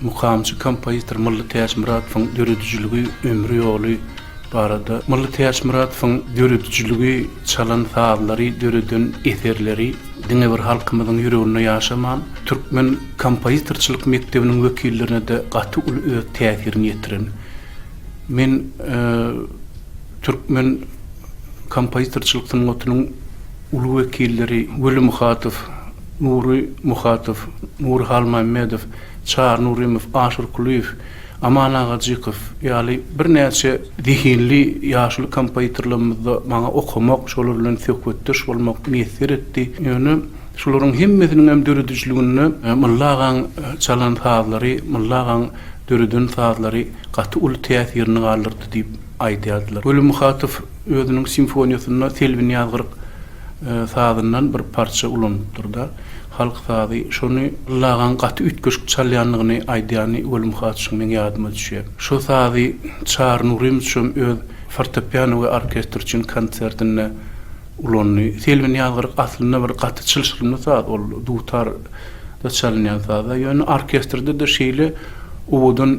Mukamçy kompozitor Mylly Täçmyradowyň döredijiligi, ömri ýoly barada Mylly Täçmyradowyň döredijiligi, çalan sazlary, döreden eserleri diňe bir halkymyzyň ýüreginde ýaşaman, türkmen kompozitorçylyk mekdebiniň wekillerine-de gaty uly öz täsirini ýetiren. Men türkmen kompozitorçylyk sungatynyň. ulag wekilleri Weli Muhatow, Nury Muhatow, Nury Halmämmedow, Çary Nurymow, Aşyr Kulyýew, Aman Agajykow ýaly birnäçe zehinli ýaşuly kompozitorlarymyzda maňa okamak, şolar bilen söhbetdeş bolmak miýesser etdi. Ýöne şularyň hemmesiniň hem döredijiliginde Mylly agaň çalan sazlary, Mylly agaň döreden sazlary gaty uly täsirini galdyrdy diýip aýdýardylar. Weli Muhatow Özüniň simfoniýasynda Selbin ýazgyryk sazyndan bir parça ulanypdyr-da, halk sazy. Şony Lagaň gaty üýtgeşik çalýandygyny aýdýany Welim Haçyň meň ýadyma düşýär. Şo sazy Çary Nurymow hem öz fortepiano we orkestr üçin konsertinde ulandy. Selbin ýazgyryk aslynda bir gaty çylşyrymly saz, ol dutar-da çalynýan saz-a, ýöne orkestrde-de şeýle owadan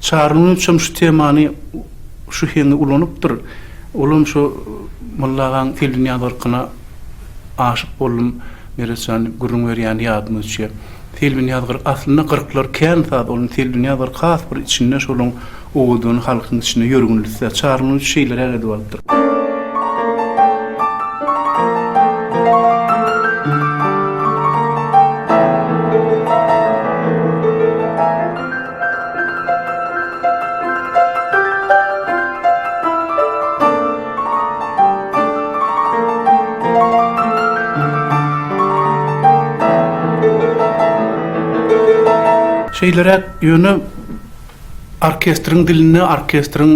Çary Nurçam şu temany şu heňi ulanypdyr. Olam şu Molla agaň Seldinýaz yrkyna aşyk boldum Meretjan gürrüň berýäni ýadyma düşýär. Selbinýaz gyr aslynda gyrklar kän saz ol Selbinýaz yrky has bir içinde şolyň owadan halkyň içinde ýörgünlisi. Çary Nurç şeýleräk edip alypdyr. Şeýleräk, ýöne orkestriň dilinde, orkestriň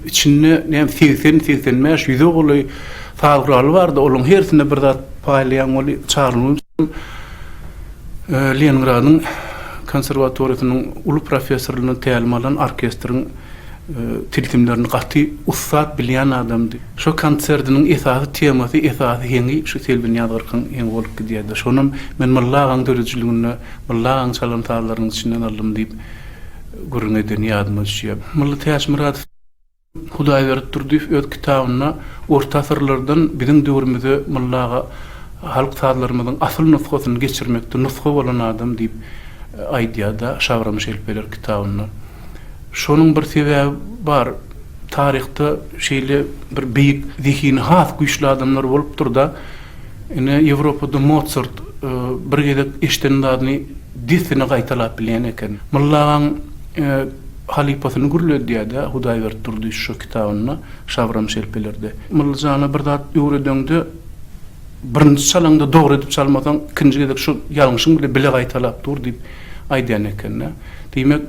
içinde näm segsen, segsen bäş, ýüze golaý saz guraly bardy, olaryň hersine bir zat paýlaýaň, ol çaglygyň Leningradyň konserwatoriýasynyň uly professoryndan tälim alan orkestriň tilsimlerini gaty ussat bilýän adamdy. Şo konsertiniň esasy temasy, esasy heňi şu Selbin Ýazgyrkyň heňi bolup gidýärdi. Şonam men Mylla agaň döredijiliginde Mylla agaň çalan sazlarynyň içinden aldym diýip gürrüň edeni ýadyma düşýär. Mylla Täçmyradow. Hudaýberdi Durdyýew öz kitabynda orta asyrlardan biziň döwrümize myllaga halk sazlarymyzyň asyl nusgasyny geçirmekde nusga bolan adam diýip aýdýar-da, Şagram şelpeler kitabynda. Şonuň bir sebäbi bar, taryhda şeýle bir beýik, zehini has güýçli adamlar bolupdyr-da, ine, Ýewropada Mozart bir gezek eşiden zadyny dessine gaýtalap bilýän eken. Myllagaň Halypasyny gürledýär-de, Hudaýberdi Durdy şu kitabynda, Şabram şelpelerde. Myllyjana bir zat öwredeňde, birinji çalaňda dogry edip çalmasaň, ikinji gezek şu ýalňyşyň bile bile gaýtalap dur diýip aýdýan eken-de. Diýmek,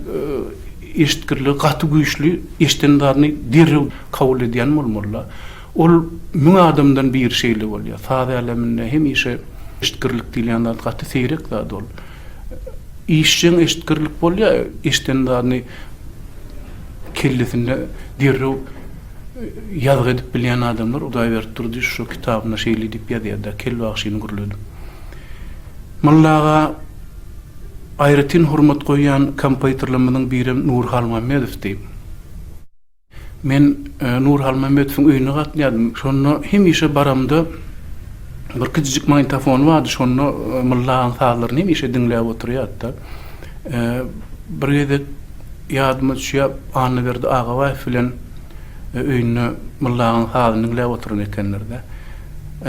eşitgirligi gaty güýçli, eşiden zadyny derrew kabul edýän bolmaly-da. Ol müň adamdan biri şeýle bolýar. Saz äleminde hemişe eşitgirlik diýilýän zat gaty seýrek zat ol. Işjeň eşitgirlik bolýar, eşiden zadyny kellesinde derrew ýazgy edip bilýän adamlar, Hudaýberdi Durdyýew şo kitabynda şeýle diýip ýazýar-da, Kel bagşyny gürledim. Molla aga aýratyn hormat goýýan kompoýtorlarymyzyň birem Nury Halmämmedowdy. Men Nur Halmämmedowyň öýüne gatnadym. Şonda hemişe baramda bir kijijik magnitofony bardy, şonda Mylla agaň sazlaryny hemişe diňläp oturýardy-da. Bir gezek ýadyma düşýär, Annaberdi Agabaýew bilen öýünde Mylla agaň sazyny diňläp oturan ekenler-de.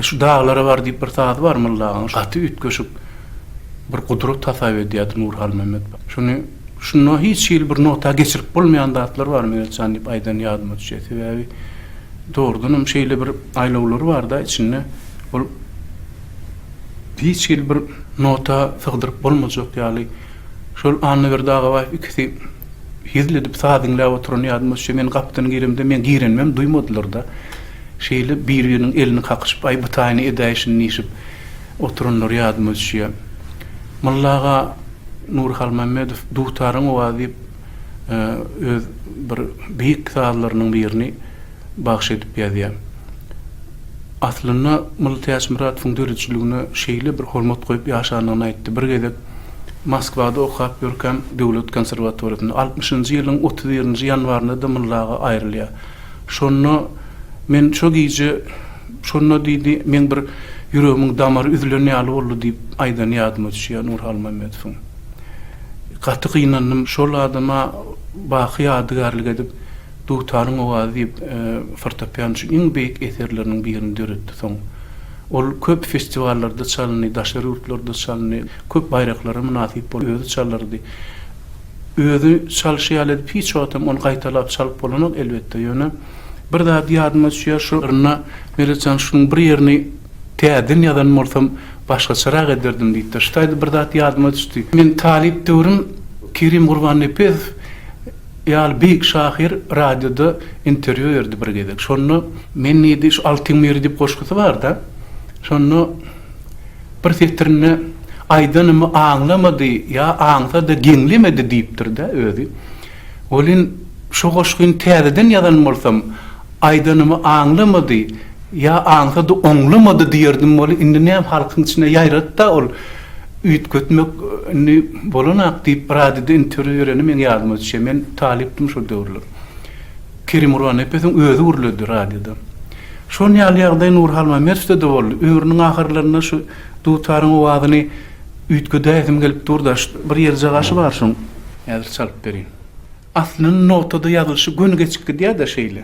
Şu Daglara bar diýip bir sazy bar Mylla agaň, gaty üýtgeşik bir gudrat hasap edýärdi Nur Halmämmedow. Şony. Şunda hiç hili bir nogta geçirip bolmaýan zatlar bar Meretjan jan diýip aýdan ýadyma düşýär. Sebäbi dogrudan hem şeýle bir aýlawlary barda içinde ol hiç hili bir nota sygdyryp bolmajak ýaly. Şol Annaberdi Agabaýew ikisi hezil edip saz diňläp oturan ýadyma düşýär. Men gapydan giremde meň girenimem duýmadylar-da. Şeýle bir-biriniň elini kakyşyp aý bu taýyny edäýşin diýşip Oturanlar ýadyma düşýär. Molla aga Nurhalmämmedow Dutaryň owazy diýip öz bir beýik sazlarynyň birini bagyş edip ýazýar. Aslynda Molla Täçmyradowyň döredijiligine şeýle bir hormat goýup ýaşandygyny aýtdy. Bir gezek Moskwada okap ýörkäm döwlet konserwatoriýasynda altmyşynjy ýylyň otuz birinji ýanwarynda-da Molla aga aýrylýar. Şonda men şo gije, şonda diýdi, meň bir ýüregimiň damary üzülen ýaly boldy diýip aýdany ýadyma düşýär Nur Halmämmedowyň. Gaty gynandym. Şol adama baky ýadygärlik edip, Dutaryň owazy diýip, fortepian üçin iň beýik eserleriniň birini döretdi. Soň ol köp festiwallarda çalyndy, daşary ýurtlarda çalyndy, köp baýraklara mynasyp boldy, özi çalardy. Özi çalşy ýaly edip hiç wagt hem ony gaýtalap çalyp bolanok elbetde, ýöne bir zady ýadyma düşýär şu yrynda Meretjan şunuň bir ýerini täzeden ýazan bolsam başgaçarak ederdim diýipdir. Şu taýda bir zat ýadyma düşdi. Men talyp döwrüm Kerim Gurbannepesow ýaly beýik şahyr radioda interwýu berdi bir gezek. Şonda men diýdi şu Altyn miri diýip goşgusy barda, şonda. Bir setirinde Aýdanymy aňlamady ýa aňsa-da geňlemedi diýipdir-dä özi. Welin, şu goşgyny täzeden ýazan bolsam, Aýdanymy aňlamady ýa aňsa-da oňlamady diýerdim weli, indi näme halkyň içinde ýaýrady-da ol. Üýtgetmek indi bolan-ak diýip, radioda interwýu bereni meň ýadyma düşýär. Men talypdym şol döwürler. Kerim Urannepesiň özi gürledi radioda. Şon ýaly ýagdaý Nurhalmamerwde-de boldy. Ömrüniň ahyrlarynda şu dutaryň owazyny üýtgedäýsim gelip dur-da, bir ýerjagaşy bar şoň, häzir çalyp berýin. Aslynyň notada ýazylyşy göni geçip gidýär-de şeýle.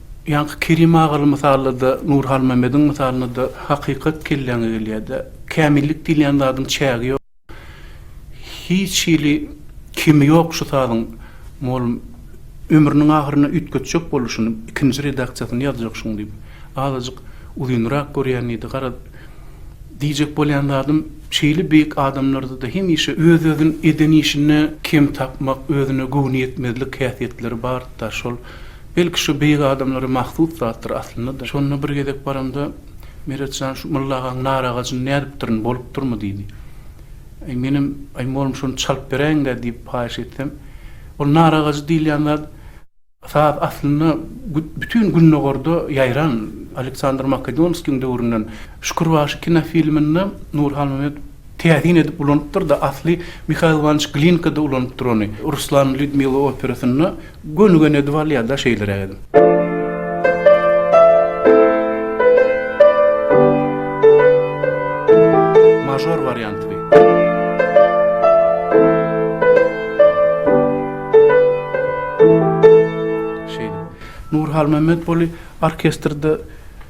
Ýaňky Kerim agaly mysalda-da, Nur Halmämmediň mysalynda-da hakykat kelläňe gelýär-dä. Kämillik diýilýän zadyň çägi ýok. Hiç hili kemi ýok şu sazyň, mugallym, ömrüniň ahyrynda üýtgetjek boldy şuny, ikinji redaksiýasyny ýazjak şuň diýip. Azajyk uzynrak görýän diýdi. Gara, diýjek bolýan zadym, şeýle beýik adamlarda-da hemişe öz-özüni eden işinde kem tapmak, özüne göwniýetmezlik häsiýetleri bardy-da, şol. Belki şu beýik adamlara mahsus zatdyr aslynda-da. Şonda bir gezek baramda, Meret jan, şu Mylla agaň nar agajyny nädipdirin, bolupdyrmy? diýdi. Aý, menem, Aý, mollum şony çalyp beräýiň-dä diýip haýyş etsem, Ol nar agajy diýilýän zat, saz aslynda bütin Gündogarda ýaýran, Aleksandr Makedonskiň döwründen Şükürbaşy kinofilminde Nur Halmämmedow, Täsin edip ulanypdyr-da, asly Mihail Iwanyç Glinka-da ulanypdyr ony. Ruslan, Lýudmila operasynda gönügen edip alýar-da şeýleräk edip. Mažor warianty bi. Şeýdip. Nur Halmämmetguly orkestrde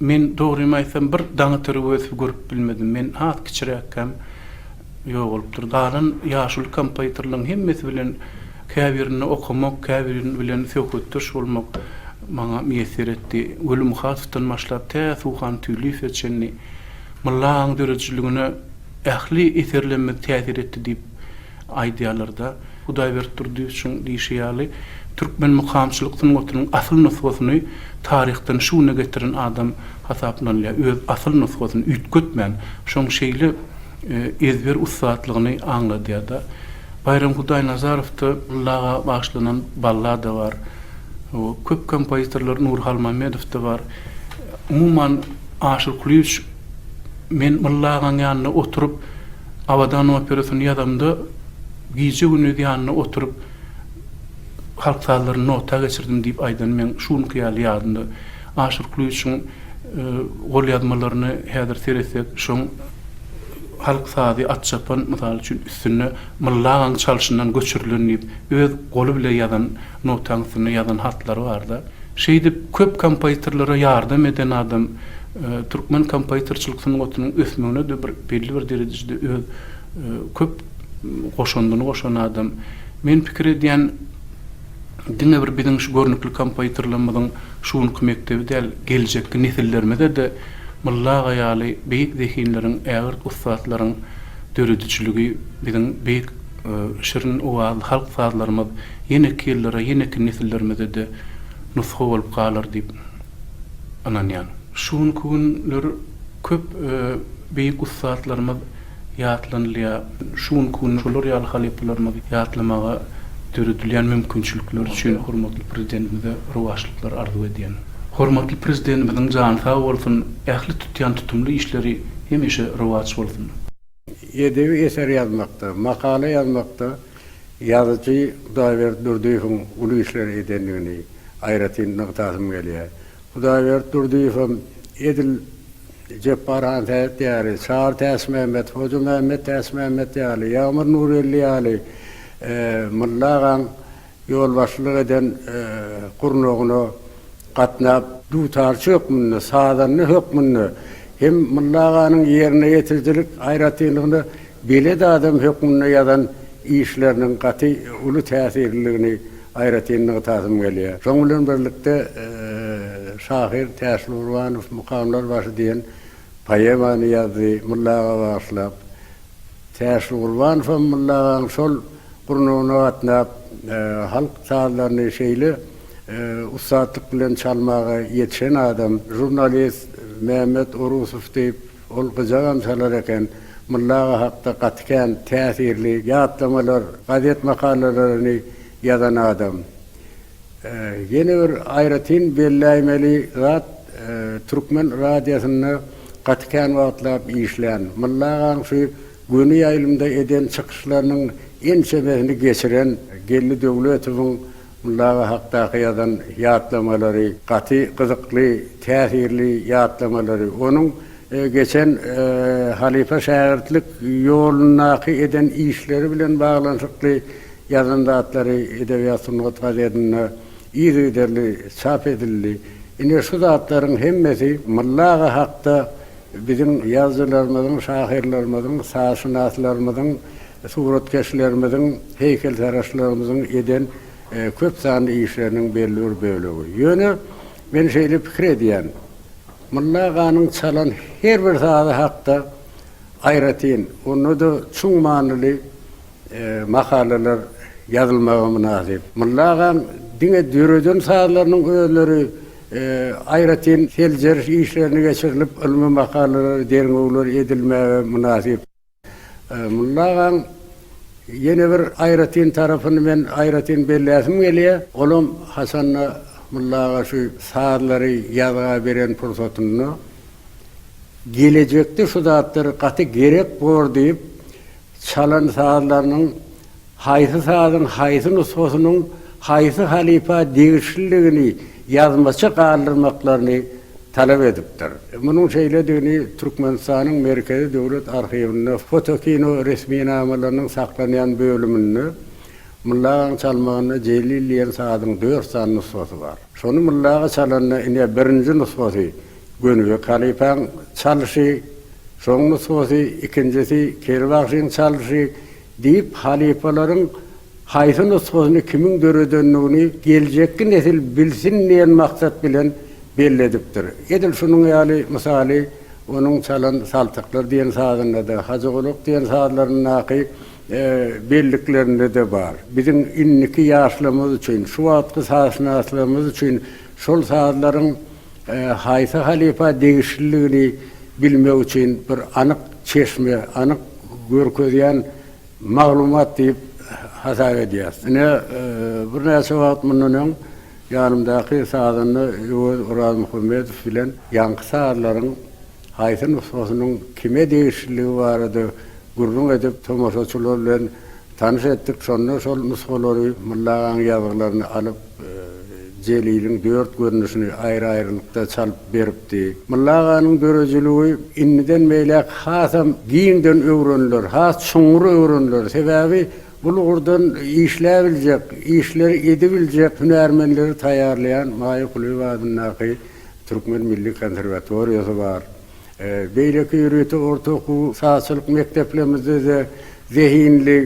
Men, dogrymy aýtsam, bir daňatyr öwezsiz görüp bilmedim. Men has kiçiräkkäm ýok bolupdyr. Galan ýaşuly kompozitorlaryň hemmesi bilen käbirinde okamak, käbiri bilen söhbetdeş bolmak maňa miýesser etdi. Weli Muhatowdan başlap tä Suhan Tüýliýewe çenli Mylla agaň döredijiligine ähli eserlerimiz täsir etdi diýip Aýdýarlar-da, Hudaýberdi Durdyýewiçiň diýşi ýaly, türkmen mukamçylyk sungatynyň asyl nusgasyny taryhdan şu güne getiren adam hasaplanylýar, öz asyl nusgasyny üýtgetmän, şoň şeýle ezber ussatlygyny aňladýar-da. Baýram Hudaýnazarowda Ylla aga bagyşlanan ballada bar. Köp kompozitorlar Nury Halmämmedowda bar. Umuman, Aşyr Kulyýewiç Men Mylla agaň ýanynda oturyp Abadan operasyny ýazamda gije-gündiz ýanynda oturyp halk sazlaryny nota geçirdim diýip aýdan meň şu günki ýaly ýadymda. Aşyr Kulyçyň golýazmalaryny häzir seretsek şoň halk sazy Atçapan mysal üçin üstünde Mylla agaň çalşyndan göçürilen diýip öz goly bile ýazan Notaň üstünde ýazan hatlary barda. Şeýdip, köp kompozitorlara ýardam eden adam, türkmen kompozitorçylyk sungatynyň ösmegine-de bir belli bir derejede öz köp goşandyny goşan adam. Men pikir edýän, diňe bir biziň şu görnükli kompozitorlarymyzyň şu günki mekdebi däl, geljekki nesillerimize-de Mylly aga ýaly beýik zehinleriň, ägirt ussatlaryň döredijiligi biziň beýik Şirin owazly halk sazlarymyz ýeneki ýyllara, ýeneki nesillerimize-de nusga bolup galar diýip ynanýan. Şu günki günler köp beýik ussatlarymyz ýatlanylýar. Şu günki günler şolar ýaly halypalarymyzy ýatlamaga döredilýän mümkinçilikler üçin hormatly Prezidentimize rowaçlyklar arzuw edýän. Hormatly Prezidentimiziň jany sag bolsun, ähli tutýan tutumly işleri hemişe rowaç bolsun! Edebi eser ýazmakda, makala ýazmakda ýazyjy Hudaýberdi Durdyýewiň uly işler edendigini aýratyn nygtasym gelýär. Hudaýberdi Durdyýew hem edil Jepbar han Sähet ýaly, Çary Täçmämmet, Hoja Mämmet Täçmämmet ýaly, Ýagmyr Nurgeldi ýaly Mylla agaň Ýolbaşçylyk eden gurnagyna gatnap. Dutarçy hökmünde, sazanda hökmünde hem Mulla aganyň ýerine ýetirijilik aýratynlygyna belet adam hökmünde ýazan işleriniň gaty uly täsirliligini aýratyn nygtasym gelýär. Şoň bilen birlikde şahyr Täşli Gurbanow Mukamlar başy diýen poemany ýazdy Mulla aga bagyşlap. Täşli Gurbanow hem Mulla agaň şol gurnagyna gatnap, halk sazlaryny şeýle ussatlyk bilen çalmaga ýetişen adam. Žurnalist Mehmet Orusow diýip, ol gyjagam çalar eken, Mulla aga hakda gaty kän täsirli ýatlamalar, gazet makalalaryny Ýazan adam. Ýene bir aýratyn belläýmeli zat, Türkmen radiýasynda gaty kän wagtlap işlän, Mylly agaň şu göni ýaýlymda eden çykyşlarynyň ençemesini geçiren Geldi Döwletowyň Mylly aga hakdaky ýazan ýatlamalary, gaty gyzykly, täsirli ýatlamalary, onuň geçen halypa-şägirtlik ýolundaky eden işleri bilen baglanyşykly Ýazan zatlary Edebiýat Sungat gazetinde yzygiderli çap edildi. Ine şu zatlaryň hemmesi Molla aga hakda biziň ýazyjylarymyzyň, şahyrlarymyzyň, sazşynaslarymyzyň, suratkeşlerimiziň, heýkeltaraşlarymyzyň eden köp sanly işleriniň belli bir bölegi. Ýöne men şeýle pikir edýän, Molla aganyň çalan her bir sazy hakda aýratyn, onda-da çuň manyly Makalalar ýazylmaga mynasyp. Mulla agaň diňe döreden sazlarynyň özleri aýratyn seljeriş işlerini geçirilip, ylmy makalalar, derňewler edilmäge mynasyp. Mulla agaň ýene bir aýratyn tarapyny men aýratyn belläsim gelýär. Olam haçanda Mulla aga şu sazlary ýazga beren pursatynda gelejekde şu zatlar gaty gerek bor diýip, Çalan sazlarynyň haýsy sazyň haýsy nusgasynyň haýsy halypa degişliligini ýazmaça galdyrmaklaryny talap edipdir. Munuň şeýledigini Türkmenistanyň Merkezi döwlet arhiwinde fotokino resminamalarynyň saklanýan bölüminde Myllagaň çalmagynda Jelil diýen sazyň dört sany nusgasy bar. Şony Myllaga çalanda ine birinji nusgasy, Gönübek halypaň çalşy, soň nusgasy, ikinjisi, Keri bagşyň çalşy diýip halypalaryň haýsy nusgasyny kimiň döredendigini geljekki nesil bilsin diýen maksat bilen belledipdir. Edil şunuň ýaly mysaly onuň çalan Saltyklar diýen sazynda-da, Hajygulak diýen sazlaryndaky belliklerinde-de bar. Biziň indiki ýaşlarymyz üçin, şu wagtky sazşynaslygymyz üçin şol sazlaryň Haýsy halypa degişliligini bilmek üçin bir anyk çeşme, anyk görkezýän maglumat diýip hasap edýäris. Ine, birnäçe wagt mundan öň ýanymdaky sazanda Öwez Orazmuhammedow bilen ýaňky sazlaryň haýsy nusgasynyň kime degişliligi barada gürrüň edip, tomaşaçylar bilen tanyş etdik. Şonda şol nusgalary Mulla agaň ýazgylaryny alyp, Jeliliň dört görnüşini aýry-aýrylykda çalyp beripdi. Mylla aganyň döredijiligi indiden beýläk hasam giňden öwreniler, has çuňňur öwreniler. Sebäbi bul ugurdan işläbiljek, işleri edibiljek hünärmenleri taýýarlaýan Maýa Kulyýewa adyndaky Türkmen milli konserwatoriýasy bar. Beýleki ýörite orta okuw sazçylyk mekdeplerimizde-de zehinli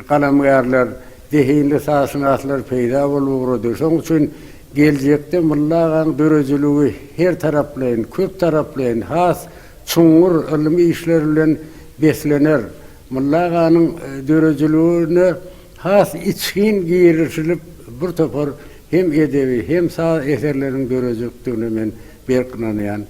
galamgärler, zehinli sazşynaslar peýda bolup ugrady. Şonuň üçin geljekde Mylly agaň döredijiligi her taraplaýyn, köp taraplaýyn, has çuňňur ylmy işler bilen beslener. Mylly aganyň döredijiligine has içgin girişilip, bir topar hem edebi, hem saz eserleriniň döredijekdigine men berk ynanýan.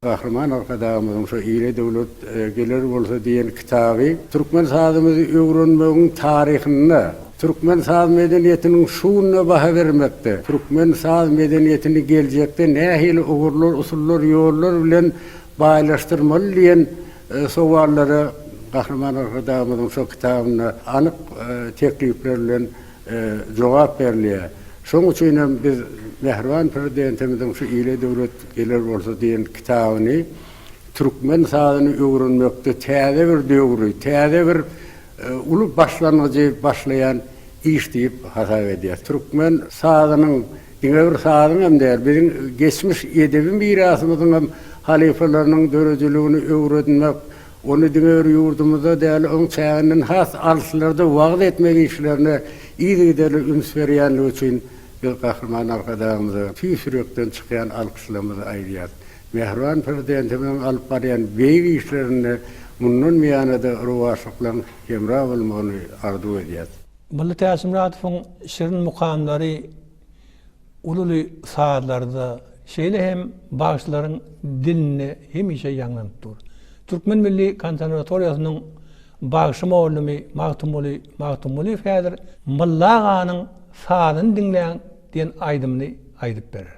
Gahryman Arkadagymyzyň şu Ile döwlet geler bolsa diýen kitaby türkmen sazymyzy öwrenmegiň taryhynda, türkmen saz medeniýetiniň şu gününe baha bermekde, türkmen saz medeniýetini geljekde nähili ugurlar, usullar, ýollar bilen baýlaşdyrmaly diýen sowallara Gahryman Arkadagymyzyň şu kitabynda anyk teklipler bilen jogap berilýär. Şonuň üçin hem biz mähriban Prezidentimiziň şu Ile döwlet geler bolsa diýen kitabyny türkmen sazyny öwrenmekde täze bir döwri, täze bir uly başlangyjy başlaýan iş diýip hasap edýäris. Türkmen sazynyň diňe bir sazyň hem däl, biziň geçmiş edebi mirasymyzyň hem halypalarynyň döredijiligini öwrenmek, Ony diňe bir ýurdumyzda däl, oň çäginden has alyslarda wagyz etmek işlerine yzygiderli üns berýändigi üçin biz Gahryman Arkadagymyza tüýs ýürekden çykýan alkyşlarymyzy aýdýarys. Mähriban Prezidentimiziň alyp barýan beýik işlerinde mundan buýana-da rowaçlyklaryň hemra bolmagyny arzuw edýäris. Mylly Täçmyradowyň şirin mukamlary. Ululy sazlarda, şeýle hem bagşylaryň dilinde hemişe ýaňlanyp dur. Türkmen milli konserwatoriýasynyň bagşy mugallimi Magtymguly Magtymgulyýew häzir Mylla aganyň Sazyny diňläň diýen aýdymyny aýdyp berer.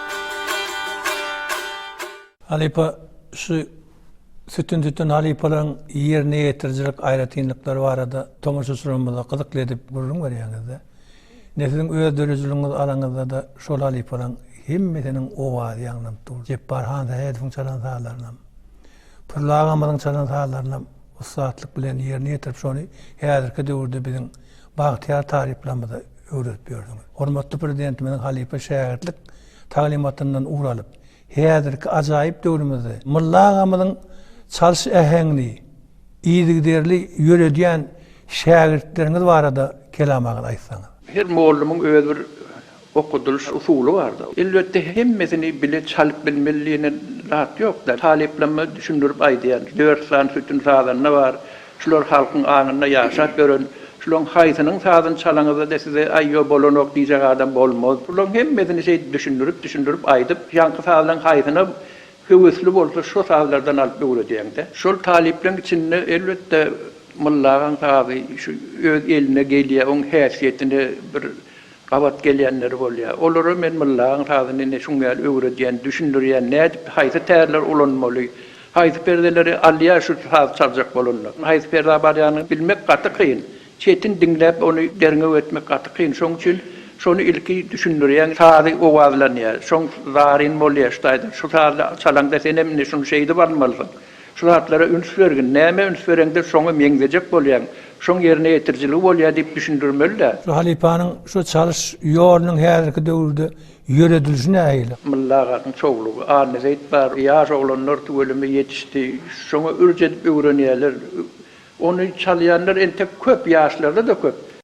Halypa şu sütün sütün halypalaryň ýerine ýetirijilik aýratynlyklary barada tomaşaçylarymyza gyzykly edip gürrüň berýäňizde, ine siziň öz döredijiligiňizi alaňyzda-da şol halypalaryň hemmesiniň owazy ýaňlanyp dur. Jepbar Hansähedowyň çalan sazlarynam. Pürli agamyzyň çalan sazlarynam ussatlyk bilen ýerine ýetirip şony häzirki döwürde biziň bagtyýar talyplarymyza öwredip ýördüňiz. Hormatly Prezidentimiziň halypa şägirtlik taglymatyndan ugur alyp, häzirki ajaýyp döwrümizde Mylly agamyzyň çalyş äheňini yzygiderli ýöredýän şägirtleriňiz barada kelam agyz aýtsaňyz. Her mollumyň öz bir Okadylyş usuly bardyr. Elbetde hemmesini bile çalyp bilmeli diýne zat ýokda. Talyplamma düşündirip aýdýan, dört sany sütün sazanda bar. Şular halkyň aňynda ýaşap ýören. Şulaň haýsynyň sazyny çalaňyzda-da size aý ýo bolanok diýjek adam bolmaz. Bulaň hemmesini şeýdip düşündirip düşündirip aýdyp, ýaňky sazlaň haýsyna höwesli bolsa şo sazlardan alyp öwredýäňdä. Şol talyplaň içinde elbetde Mylla agaň sazy şu öz eline gelýä, oň häsiýetine bir Gabat gelýänleri bolýar. Olara men myllaň sazyny ine şuň ýaly öwredýän, düşündirýän, nädip haýsy tärleri ulanmaly, haýsy perdeleri alýar şu saz çaljak bolanlar. Haýsy perda barýanyny bilmek gaty kyn. Çetin diňläp ony derňew etmek gaty kyn. Şoň üçin şony ilki düşündirýän, sazy owazlanýar. Soň zaryn bolýar ştaýdan. Şu sazy çalaňda senem ine şuny şeýdip almalysyň. Şu zatlara üns bergin, nämä üns bereňde şoňa meňzejek bolýaň, şoň ýerine ýetirijiligi bolýar diýip düşündirmeli-dä. Şu halypanyň şu çalyş ýolunyň häzirki döwürde ýöredilişi nähili? Mylla agasynyň çowlugy, Annazeýit bar, ýaş oglanlar tüweleme ýetişdi, şoňa ürç edip öwrenýärler. Ony çalýanlar entek köp, ýaşlarda-da köp.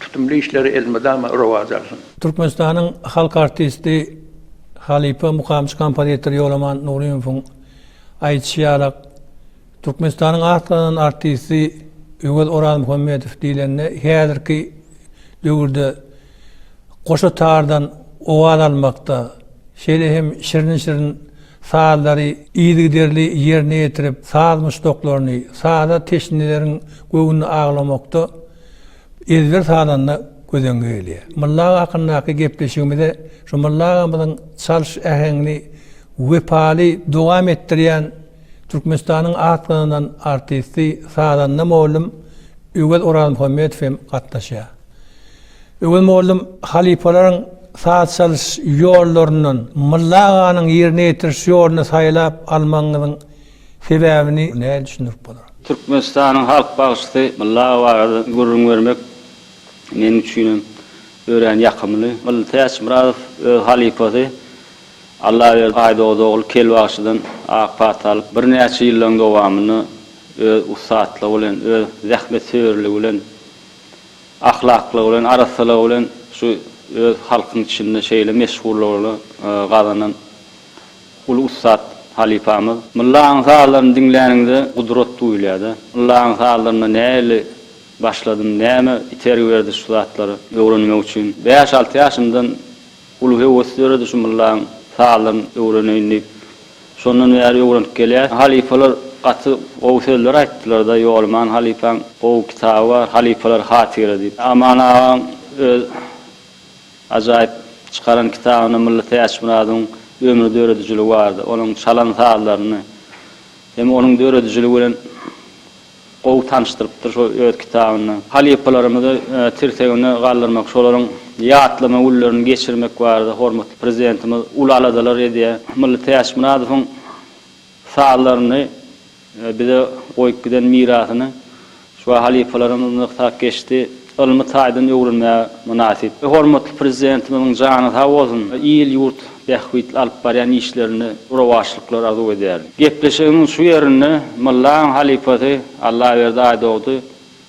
Tutumly işleri elmydama rowaç alsyn. Türkmenistanyň halk artisti, halypa mukamçy kompozitor Ýolaman Nurymowyň aýdyşy ýalak, Türkmenistanyň at gazanan artisti Öwez Orazmuhammedow diýlende häzirki döwürde goşa tardan owaz almakda, şeýle hem şirin-şirin sazlary yzygiderli ýerine ýetirip, saz muşdaklaryny, saza teşneleriň göwnüni aglamakda, Ezber salanda göz-öňe gelýär. Mulla aga hakyndaky gepleşigimize şu Mulla agamyzyň çalyş äheňini wepaly dowam etdirýän Türkmenistanyň at gazanan artisti, sazanda mollum Öwez Orazmuhammedow hem gatnaşýar. Öwez mollum halypalaryň saz çalyş ýollaryndan Mulla aganyň ýerine ýetiriş ýoluny saýlap almagyňyzyň Sebäbini nädip düşündirip bolar? Türkmenistanyň halk bagşysy Mylly aga barada gürrüň bermek meniň üçinem örän ýakymly. Mylly Täçmyradow öz halypasy Allaberdi Aýdogdy ogul Kel bagşydan ak pata alyp, birnäçe ýyllaryň dowamynda öz ussatlygy bilen, öz zähmetsöýerligi bilen, ahlaklygy bilen, arassalygy bilen şu öz halkyň içinde şeýle meşhurlygyny gazanan Uly ussat halypamyz. Myllaň sazlaryny diňläniňde gudrat duýulýada. Myllaň sazlarynda nähili başladym, näme itergi berdi şu zatlary öwrenmek üçin. Bäş alty ýaşymdan uly höwes döredi şu myllaň sazlaryn öwreneýin diýip. Şondan bäri öwrenip gelýäs. Halypalar gaty gowy sözler aýtdylarda Ýolman halypaň gowy kitaby bar Halypalar hatyra diýip. Aman agaň öz Ajaýyp çykaran kitabynda Mylly Täçmyradyň ömri döredijiligi barada, onuň çalan sazlaryny hem onuň döredijiligi bilen gowy tanyşdyrypdyr şo öz kitabynda. Halypalarymyzy tirseginde galdyrmak, şolaryň ýatlama günlerini geçirmek barada hormatly Prezidentimiz uly aladalar edýär. Mylly Täçmyradowyň sazlaryny Bize goýup giden mirasyny şuwagt halypalaryň yzyna ysgap geçdi. Ylmy taýdan öwrenmäge mynasyp. Hormatly Prezidentimiziň jany sag bolsun, il-ýurt bähbitli alyp barýan işlerinde rowaçlyklar arzuw edýärin. Gepleşigimiň şu ýerinde Myllaň halypasy Allaberdi Aýdogdy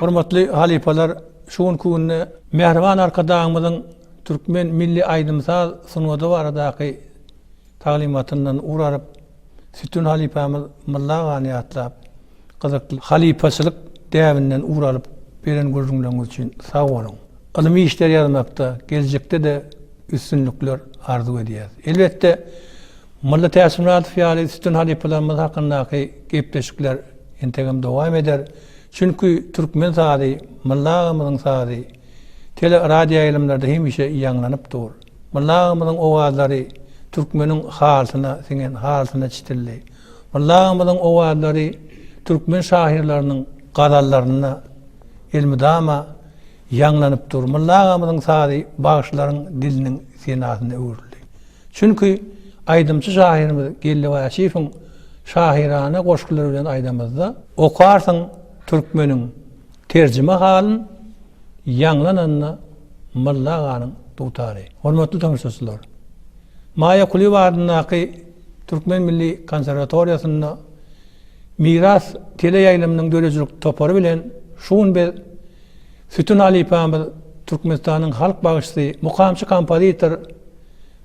Hormatly halypalar, şu günki günde Mähriban Arkadagymyzyň türkmen milli aýdym-saz sungady baradaky taglymatyndan ugur alyp, Sütün halypamyz Mylla agany ýatlap, Gyzykly halypaçylyk däbinden ugur alyp beren gürrüňleriňiz üçin sag boluň. Ylmy işler ýazmakda geljekde-de üstünlikler arzuw edýäs. Elbetde, Molla Täçmyradow ýaly üstün halypalarymyz hakyndaky gepleşikler entegem dowam eder. Çünki türkmen sazy, Molla agamyzyň sazy tele, radioýaýlymlarda hemişe ýaňlanyp dur. Molla agamyzyň owazlary türkmeniň halysyna siňen, halysyna çitildi. Mulla agymyzyň owazlary türkmen şahyrlarynyň gazallarynda elmydama ýaňlanyp dur. Mulla agymyzyň sazy bagşylaryň diliniň senasyna öwrüldi. Çünki aýdymçy şahyrymyz Geldi Waşiýewiň şahyrana goşgulary bilen aýdamyzda okarsyň türkmeniň terjime halyn ýaňlananda Mulla aganyň dutary. Hormatly tomaşaçylar! Maýa Kulyýewa adyndaky Türkmen milli konserwatoriýasynda Miras teleýaýlymynyň döredijilik topary bilen şu gün biz Sütün halypamyz, Türkmenistanyň halk bagşysy, mukamçy-kompozitor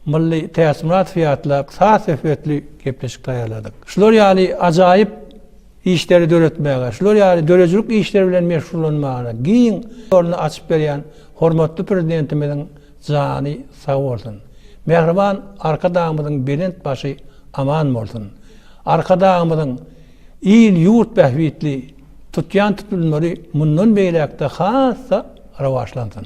Mylly Täçmyradowy ýatlap, saz söhbetli gepleşik taýýarladyk. Şular ýaly ajaýyp işleri döretmäge, şular ýaly döredijilik işleri bilen meşgullanmaga giň ýoluny açyp berýän hormatly Prezidentimiziň Jany sag bolsun. Mähriban Arkadagymyzyň belent başy aman bolsun. Arkadagymyzyň il ýurt bähbitli tutýan tutlulmary mundan beýläkde has-da rowaçlansyn.